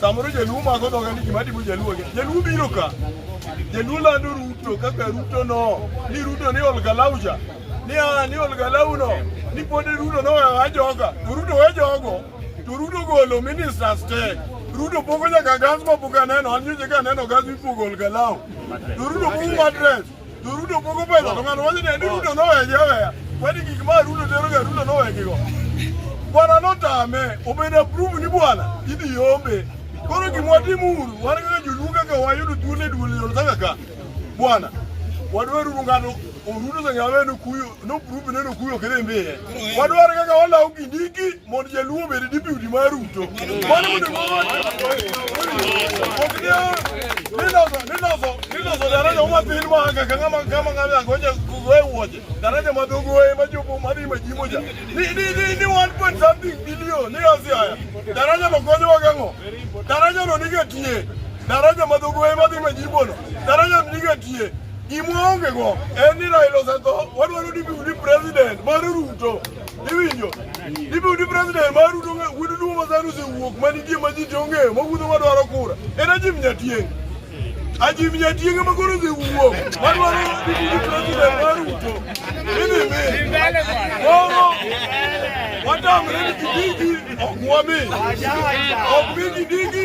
Samoro jaluo mako dhoga ni gima dimo jaluo ge. Jaluo biro ka. Jaluo lando Ruto kaka Ruto no. Ni Ruto ni olgalauja. Ni a ni olgalau no. Ni pode Ruto no ya joga. To Ruto we jogo. To Ruto golo ministers te. Ruto pogo nyaka gas ma buka neno. Anyo nyaka neno gas mi pogo olgalau. To Ruto pogo matres. To Ruto pogo pesa to ng'ato wacho ni adi Ruto nowegi aweya. Kwani gik ma Ruto tero ga Ruto nowegigo. Bwana notame obed approve ni bwana idhi yombe. Koro gima watim uru wan kaka joluo kaka wayudo thuolo e duol yol saka ka. Bwana wadwaro uru ng'ato Ruto sang'awe nokuyo noprove ni nokuyo kere mbiye. Wadwaro kaka walawo kindiki mondo jaluo obed dibiudi mar ruto mano mondo niloso daraja umatin manga kama ng'ama angoja kugoe wuoche daraja madhogoe majopo madhi majimoja ni one point something billion ni asi haya daraja no konyowa gang'o daraja no nige tie daraja madhogoe madhi majibono daraja no nige tie gimwaongego en ni Raila osetho wadwaro ni biudi president mar Ruto Iwinjo? Ibiro di president mar Ruto ng'e wedu duo ma dhano osewuok ma nitie ma ji to ng'eyo ma wuotho ma dwaro kura. En Ajim Nyatieng'. Ajim Nyatieng' ma koro osewuok ma dwaro di di president mar Ruto. Idhi mi. Koro watamre ni Kindiki ok wami. Ok mi Kindiki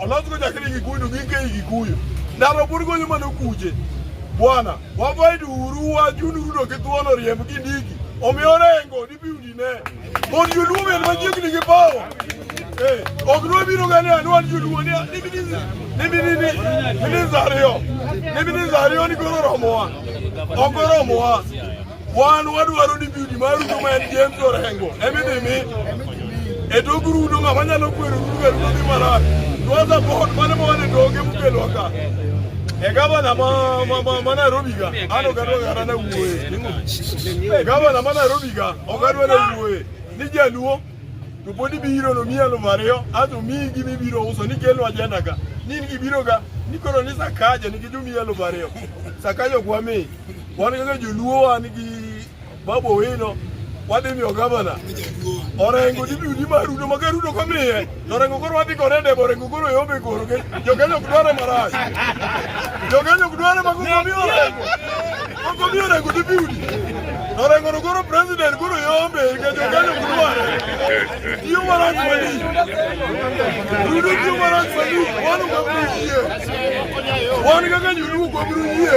Olazgo chakre Gikuyu gike i Gikuyu. Ndaro pod gonyo mana okuche. Bwana, wabaid uru wach unurudo gi thuon oriemb gi ndiki. Omiyo rengo dibi udine. Mon joluo men machiegni gi pawo. Eh, ok nwa biro gani anwan joluo ni niminizi niminini minizario niminizario ni goro romowa ogoro romowa Wan wadwaro ni biudi maru joma en James Orengo emidhi mi e tok rudo ng'ama nyalo kwero rudo e rudo dhi marach dwaza bohot mane mawan e toke mukelwa ka e gavana ma Nairobi ga an ok adwa kata na wuoye gavana ma Nairobi ga ok adwa na wuoye ni jaluo to pod ibiro no miya aluf ariyo ato miyi gima ibiro uso ni kelno ajenda ka ni in gibiro ga ni koro ni sakaja nikech omiyi aluf ariyo sakaja ok wamiyi Wan kaka joluo wan gi Babu Owino wadhi miyo gavana orengo dibudi ma rudo ma ka rudo komiye orengo koro wadhi kore debo orengo koro yombe koro ke jokenya ok dware marach jokenya ok dware ma kokomi orengo kokomi orengo dibudi orengo no koro president koro yombe ke jokenya ok dware tiyo marach mani rudo tiyo marach mani wan kaka yie wan kaka nyuluo kwabiro yie